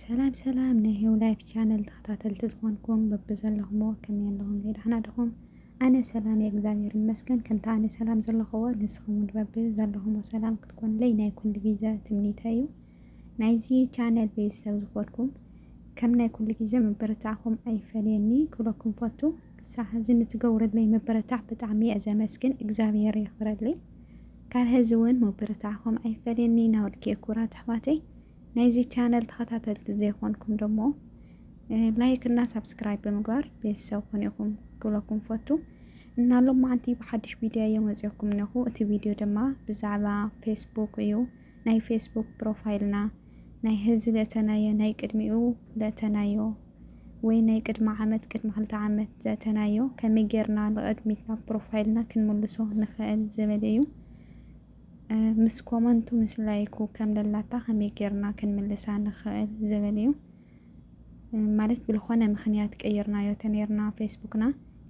ሰላም ሰላም ናይ ሂው ላይፍ ቻነል ተኸታተልቲ ዝኾንኩም በብዘለኹሞ ከመይ ኣለኹም ደሕና ድኹም ኣነ ሰላም እየ እግዚኣብሔር ይመስገን ከምቲ ኣነ ሰላም ዘለኹዎ ንስኹም በቢ ዘለኹሞ ሰላም ክትኮንለይ ናይ ኩሉ ግዜ ትምኒተይ እዩ ናይዚ ቻነል ቤተሰብ ዝኾንኩም ከም ናይ ኩሉ ግዜ ምብርታዕኹም ኣይፈለየኒ ክብለኩም ፈቱ። ክሳብ ሕዚ ንትገብሩለይ ምብርታዕ ብጣዕሚ እየ ዘመስግን፣ እግዚኣብሔር የኽብረለይ። ካብ ሕዚ እውን ምብርታዕኹም ኣይፈለየኒ ናወድኪ ኩራት ኣሕዋተይ። ናይዚ ቻነል ተኸታተልቲ ዘይኾንኩም ደሞ ላይክ እና ሳብስክራይብ ብምግባር ቤተሰብ ኮን ኢኹም ክብለኩም ፈቱ እና ሎማዓንቲ ብሓድሽ ቪድዮ እየ መፅኦኩም ነኹ። እቲ ቪድዮ ድማ ብዛዕባ ፌስቡክ እዩ። ናይ ፌስቡክ ፕሮፋይልና ናይ ሀዚ ዘእተናዮ ናይ ቅድሚኡ ዘእተናዮ ወይ ናይ ቅድሚ ዓመት ቅድሚ ክልተ ዓመት ዘእተናዮ ከመይ ጌርና ንቕድሚት ናብ ፕሮፋይልና ክንምልሶ ንኽእል ዝብል እዩ ምስ ኮመንቱ ምስ ላይኩ ከም ደላታ ከመይ ጌርና ክንምልሳ ንኽእል ዝብል እዩ ማለት ብልኾነ ምክንያት ቀይርናዮ ተነርና ፌስቡክና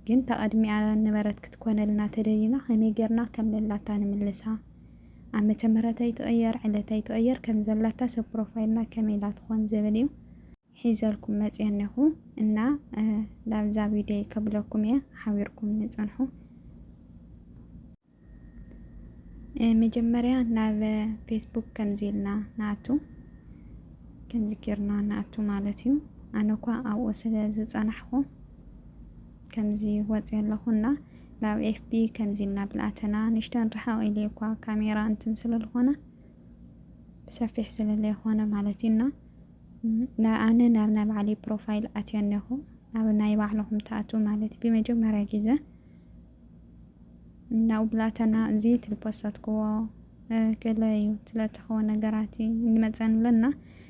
ግን ተቐድሚኣ ነበረት ክትኮነልና ተደሊና ከመይ ጌርና ከም ደላታ ንምልሳ ዓመተ ምህረት ኣይትቕየር ዕለት ኣይትቕየር ከም ዘላታ ሰብ ፕሮፋይልና ከመይ ኢላ ትኾን ዝብል እዩ ሒዘልኩም መፅየ እነኹ እና ላብዛ ቪድዮ ከብለኩም እየ ሓቢርኩም ንፀንሑ መጀመርያ ናብ ፌስቡክ ከምዚ ኢልና ንኣቱ ከምዚ ጌርና ንኣቱ ማለት እዩ ኣነ እኳ ኣብኡ ስለ ዝፀናሕኹ ከምዚ ወጺ ኣለኹ እና ናብ ኤፍቢ ከምዚ እና ብልኣተና ንሽተን ርሓቕ ኢሊ እኳ ካሜራ እንትን ስለልኾነ ብሰፊሕ ስለለይኾነ ማለት እዩ እና ኣነ ናብ ናይ ባዕለይ ፕሮፋይል ኣትዮ እኔኹ ናብ ናይ ባዕልኹም ትኣትው ማለት እዩ ብመጀመርያ ግዘ ናብኡ ብላተና እዚ ትልፖሰትክዎ ገለ እዩ ስለተኸወ ነገራት እዩ እንመፀን ኣለና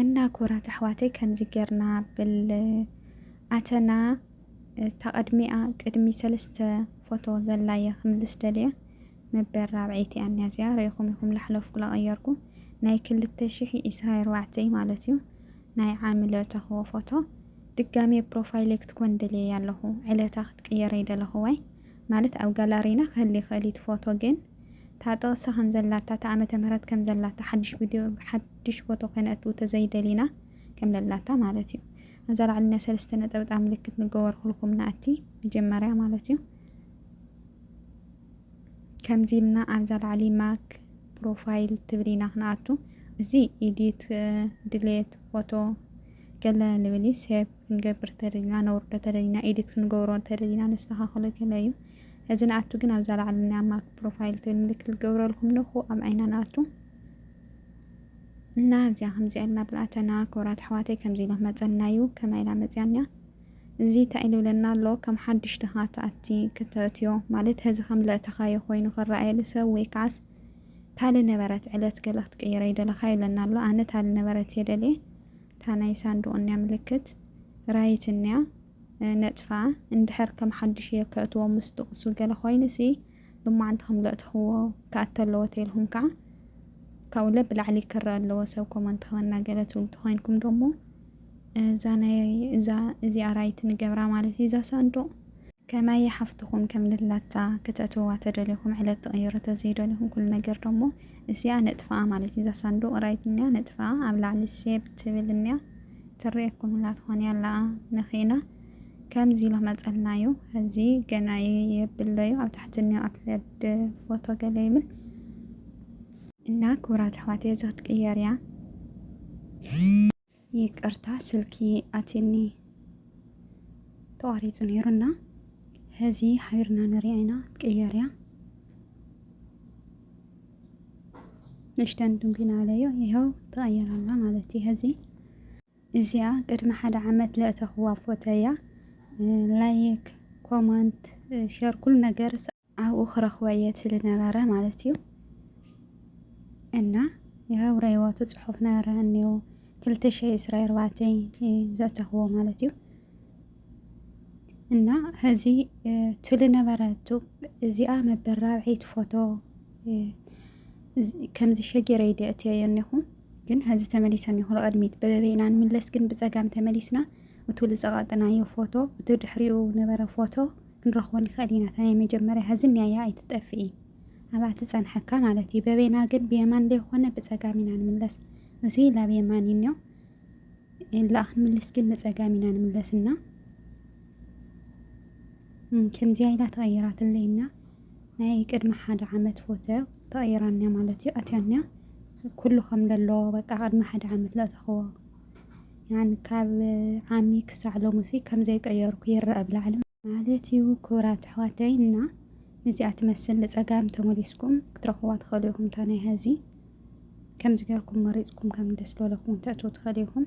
እና ኩራት ኣሕዋተይ ከምዚ ገርና ብል ኣተና እታ ቅድሚኣ ቅድሚ ሰለስተ ፎቶ ዘላ እየ ክምልስ ደልየ መበል ራብዐይቲ እያ እኒኣ እዚኣ ሪኢኹም ኢኹም ላሕለፍኩ ላቀየርኩ ናይ ክልተ ሽሕ ዒስራ ኣርባዕተ እዩ ማለት እዩ ናይ ዓሚ ለእተኽዎ ፎቶ ድጋሜ ፕሮፋይለይ ክትኮን ደልየያ ኣለኹ ዕለታ ክትቅየር ኣይደለኽዋይ ማለት ኣብ ጋላሪና ክህሊ ይኽእል እዩ እቲ ፎቶ ግን እታ ጥቕሲ ከም ዘላታ እታ ዓመተ ምህረት ከም ዘላታ ሓድሽ ቪድዮ ሓዱሽ ፎቶ ከነእትው ተዘይደሊና ከም ለላታ ማለት እዩ ኣዛ ላዕሊና ሰለስተ ነጠብጣብ ምልክት ንገበር ኩልኩም ናእቲ መጀመርያ ማለት እዩ ከምዚ ኢልና ኣብዛ ላዕሊ ማክ ፕሮፋይል ትብል ኢና ክንኣቱ እዚ ኢዲት ድሌት ፎቶ ገለ ንብል እዩ ሴቭ ክንገብር ተደሊና ነውርዶ ተደሊና ኢዲት ክንገብሮ ተደሊና ነስተኻኽሎ ገለ እዩ እዚ ንኣቱ ግን ኣብዛ ላዕሊ ናይ ማክ ፕሮፋይል ትብል ምልክት ዝገብረልኩም ንኹ ኣብ ዓይና ንኣቱ እና እዚኣ ከምዚኣ ኢልና ብልኣተና ክቡራት ኣሕዋተይ ከምዚ ኢለ ክመፀና እዩ ከመይ ኢላ መፅያኒያ እዚ እንታይ ኢሉ ይብለና ኣሎ ከም ሓድሽ ድኻ ትኣቲ ክተእትዮ ማለት ሀዚ ከም ለእተኻዮ ኮይኑ ክረኣየሉ ሰብ ወይ ከዓስ ታሊ ነበረት ዕለት ገለ ክትቅይረ ይደለኻ ይብለና ኣሎ ኣነ ታሊ ነበረት እየ ደልየ እታ ናይ ሳንዱቕ እኒያ ምልክት ራይት እኒያ ነጥፋ እንድሕር ከም ሓድሽ እየ ከእትዎ ምስ ጥቕሱ ገለ ኮይኑሲ ሎማዓንቲ ከም ዘእተኽዎ ክኣቱ ኣለዎ ተይልኩም ከኣ ካብኡ ለብ ብላዕሊ ክረኣ ኣለዎ ሰብ ኮመንት ክበና ገለ ትብሉ ተኾይንኩም ዶሞ እዛ ናይ እዛ እዚኣ ራይት ንገብራ ማለት እዩ እዛ ሳንዱቕ ከማይ ሓፍትኹም ከም ልላታ ክተእትውዋ ተደሊኹም ዕለት ትቕይሩ ተዘይደሊኹም ኩሉ ነገር ዶሞ እሲኣ ነጥፍኣ ማለት እዩ እዛ ሳንዱቕ ራይት እኒኣ ነጥፍኣ ኣብ ላዕሊ ሴብ ትብል እኒኣ ትርኤኩም ሁላ ትኾን እያ ኣለኣ ንኺእና ከምዚ ኢሎ መጸልናዩ እዚ ገናዩ የብለዩ ኣብ ታሕቲ እኒኦ ኣፕለድ ፎቶ ገለ ይብል እና ክቡራት ኣሕዋት እዚ ክትቅየር እያ ይቅርታ ስልኪ ኣትኒ ተቋሪፁ ነይሩ እና ሕዚ ሓቢርና ንሪኣ ኢና ትቅየር እያ ንሽተን ድንጉና ኣለዮ ይኸው ተቐየራላ ማለት እዩ ሕዚ እዚኣ ቅድሚ ሓደ ዓመት ለእተክዋ ፎቶ እያ ላይክ ኮማንት ሸር ኩሉ ነገር ኣብኡ ክረክቦ እየ ትብሊ ነበረ ማለት እዩ እና ያው ረይወቱ ጽሑፍ ነበረ እኒው ክልተ ሸይ ዕስራ ኣርባዕተ ዘእተክዎ ማለት እዩ እና ሕዚ ትብሊ ነበረቱ እዚኣ መበል ራብዒት ፎቶ ከምዚ ሸጊረይ ደእትዮ እኒኹ ግን ሀዚ ተመሊሰን ይኹን ቐድሚት በበበይ ኢና ንምለስ ግን ብፀጋም ተመሊስና እቱ ልፀቐጥናዮ ፎቶ እቱ ድሕሪኡ ነበረ ፎቶ ክንረኽቦ ንኸእል ኢና እታ ናይ መጀመርያ ሀዚ ንያያ ኣይትጠፍኢ ኣብኣ ትፀንሐካ ማለት እዩ በበይና ግን ብየማን ዘይኾነ ብፀጋም ኢና ንምለስ እዙይ ላብ የማን እዩ እኒኦ ላእ ክንምልስ ግን ንፀጋም ኢና ንምለስና ከምዚያ ኢላ ተቐይራትለይና ናይ ቅድሚ ሓደ ዓመት ፎቶ ተቀይራኒያ ማለት እዩ ኣትያኒያ ኩሉ ከም ለሎ በቃ ቅድሚ ሓደ ዓመት ለእተኽዎ ያን ካብ ዓሚ ክሳዕ ሎሙሲ ከም ዘይቀየርኩ ይረኣ ኣብ ላዕሊ ማለት እዩ። ክቡራት ኣሕዋተይ እና ንዚኣ ትመስል ንጸጋም ተመሊስኩም ክትረኽብዋ ትኽእሉ ኢኹም እታ ናይ ሀዚ ከምዚ ጌርኩም መሪጽኩም ከም ደስ ዝበለኩም ተእትዉ ትኽእሉ ኢኹም።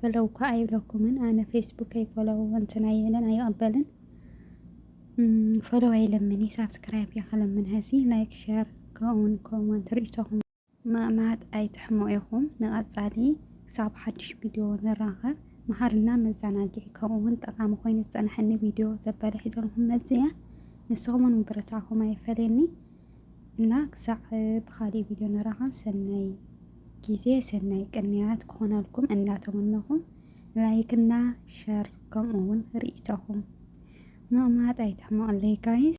ፈለው እኳ ኣይብለኩምን ኣነ ፌስቡከይ ፈለው እንትን ኣይብልን ኣይቕበልን ፈለው ኣይልምን እዩ ሳብስክራይብ እየ ክልምን ሀዚ ላይክ ሸር ከምኡውን ኮመንት ርእቶኹም ምእማት ኣይትሕሙ ኢኹም ንቐፃሊ ክሳብ ሓድሽ ቪድዮ ንራኸብ መሃርና መዘናግዒ ከምኡውን ጠቓሚ ኮይኑ ዝፀናሐኒ ቪድዮ ዘበለ ሒዘልኩም መፅእ እያ ንስኹምን ምብርታዕኹም ኣይፈለየኒ እና ክሳዕ ብካሊእ ቪድዮ ንራኸብ ሰናይ ግዜ ሰናይ ቅንያት ክኾነልኩም እንዳተመነኹ ላይክ እና ሸር ከምኡ እውን ርኢቶኹም ምቕማጥ ኣይትሕመቕለይ ጋይስ።